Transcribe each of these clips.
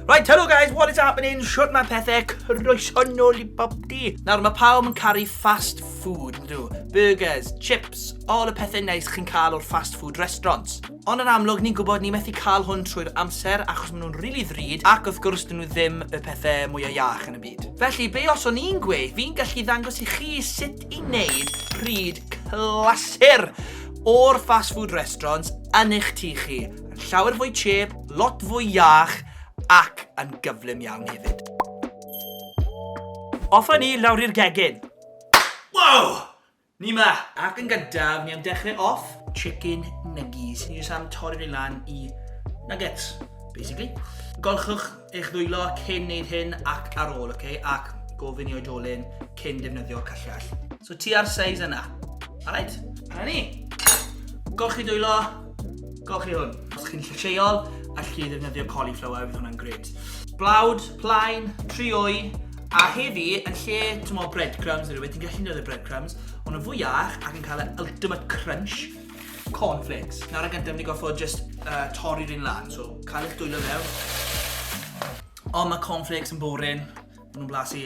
Right, hello guys, what is happening? Shut my pethau, croeso nôl i bob di. Nawr, mae pawb yn caru fast food, yn dw. Burgers, chips, all y pethau neis chi'n cael o'r fast food restaurants. Ond yn amlwg ni'n gwybod ni methu cael hwn trwy'r amser achos maen nhw'n rili ddrud ac wrth gwrs dyn nhw ddim y pethe mwya iach yn y byd. Felly be os o'n i'n gweud fi'n gallu ddangos i chi sut i wneud pryd clasur o'r fast food restaurants yn eich tŷ chi. Yn llawer fwy chep, lot fwy iach ac yn gyflym iawn hefyd. Offa ni lawr i'r gegin. Wow! Ni 'ma! Ac yn gyntaf, ni am dechrau off, chicken nuggies. Ni jyst am torri nhw lan i nuggets, basically. Golchwch eich ddwylo cyn wneud hyn ac ar ôl, ok? Ac gofyn i oedolyn cyn defnyddio cyllell. So ti ar size yna. Alright? Dyna ni. Golchi dwylo. Gwelwch chi hwn, os chi'n lleol, allwch chi ddefnyddio cauliflower, fydd hwnna'n gred. Blawd, plaen, trioi, a heddi, yn lle tymo breadcrumbs, rydw ti'n gallu defnyddio breadcrumbs, ond yn fwy iach ac yn cael y ultimate crunch, cornflakes. Nawr yn gyntaf, ni goffo just uh, torri'r un lan, so cael eich dwylo mewn. Ond mae cornflakes yn boring, maen nhw'n blasu,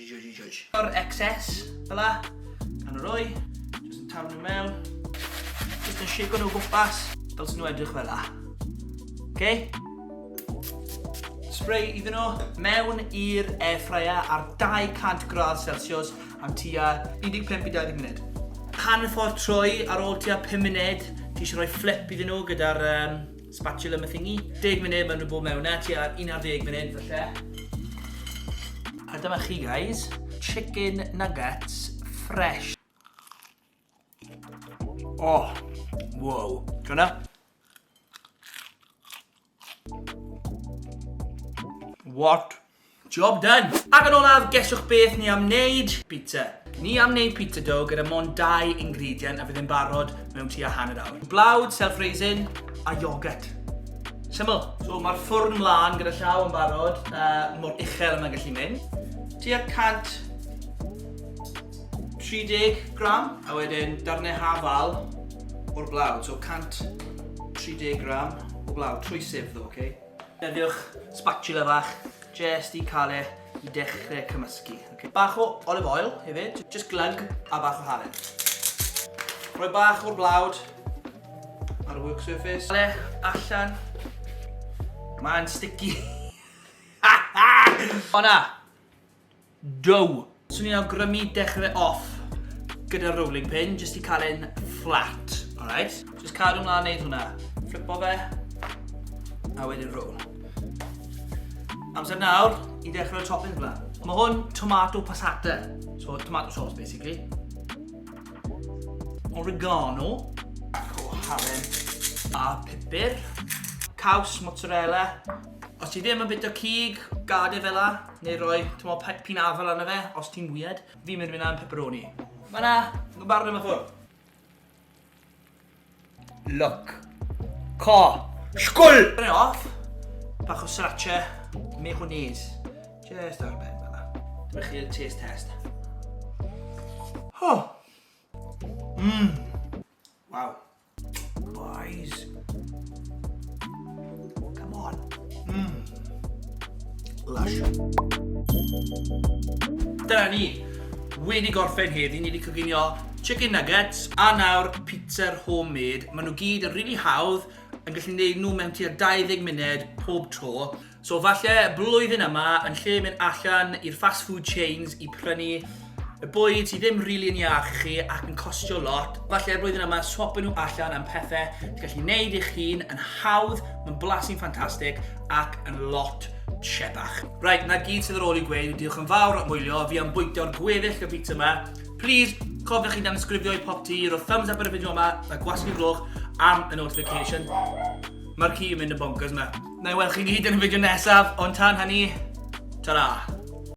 O'r excess, fel la. Pan o'r oi, jyst yn taflu nhw mewn. Jyst yn shake nhw gwmpas, fel sy'n nhw edrych fel la. Okay? Spray iddyn nhw mewn i'r air fryer ar 200 gradd Celsius am tua 15 i 20 munud. Pan y ffordd troi ar ôl tua 5 munud, ti eisiau rhoi flip iddyn nhw gyda'r um, Spatula ma thingy. Deg munud, mae'n rhywbeth mewn na, tua un ar ddeg munud falle. A dyma chi guys, chicken nuggets fresh. Oh, wow. Gwna? What? Job done! Ac yn olaf, gesiwch beth ni am wneud? Pizza. Ni am wneud pizza dough gyda mond dau ingredient a fydd e'n barod mewn tua hanner awr. Blawd, self-raising a yoghurt. Syml! So mae'r ffwrn mlân gyda llaw yn barod, mor uchel a mae'n gallu mynd. Tua 130 gram. A wedyn darnau hafal o'r blawd, so 130 gram o blawd, trwy sieve ddo, ok? Defnyddiwch spatula fach jest i cael e i dechrau cymysgu. Okay. Bach o olive oil hefyd, just glug a bach o halen. Rhoi bach o'r blawd ar y work surface. Ale allan. Mae'n sticky. Hona! Do! Swn i'n awgrymu dechrau fe off gyda rolling pin jyst i cael e'n fflat, alright? Jyst cadw mlaen neud hwnna. Flipo fe, a wedyn roll. Amser nawr i ddechrau'r toppings bla. Mae hwn tomato passata, so tomato sauce basically. Oregano, o halen, a pupur. Caws, mozzarella. Os ti ddim yn bita cig, gad e fel 'na. Neu roi, t'mo, pe- pin afal arno fe, os ti'n weird. Fi'n mynd i fynd am pepperoni. Fan 'na! Yn barod am y ffwrdd. Look. Co. Sgwl! Brynu e off. Bach o sriracha. Mayonnaise. Just ar y ben fel 'na. Dyma chi'r taste test. Ho! Mmm. Waw. Boys. Oh, come on. Mm. Lush. Dyna ni. Wedi gorffen heddi, ni wedi coginio chicken nuggets a nawr pizza homemade. Maen nhw gyd yn rili really hawdd yn gallu gwneud nhw mewn tua 20 munud pob tro. So falle blwyddyn yma, yn lle mynd allan i'r fast food chains i prynu y bwyd sydd ddim rili yn iach i chi ac yn costio lot, falle blwyddyn yma swapio nhw allan am pethau ti'n gallu gwneud eich hun yn hawdd, mae'n blasu'n ffantastig ac yn lot siebach. Right, na gyd sydd ar ôl i gweud, diolch yn fawr am wylio, fi am bwytio'r gweddill y bit yma. Please, cofiwch chi dan ysgrifio i pop ti, roedd thumbs up ar y fideo yma, a gwasgu glwch am y notification. Mae'r ci yn mynd yn bonkers yma. Nai weld chi gyd yn y fideo nesaf, ond tan hynny, tara!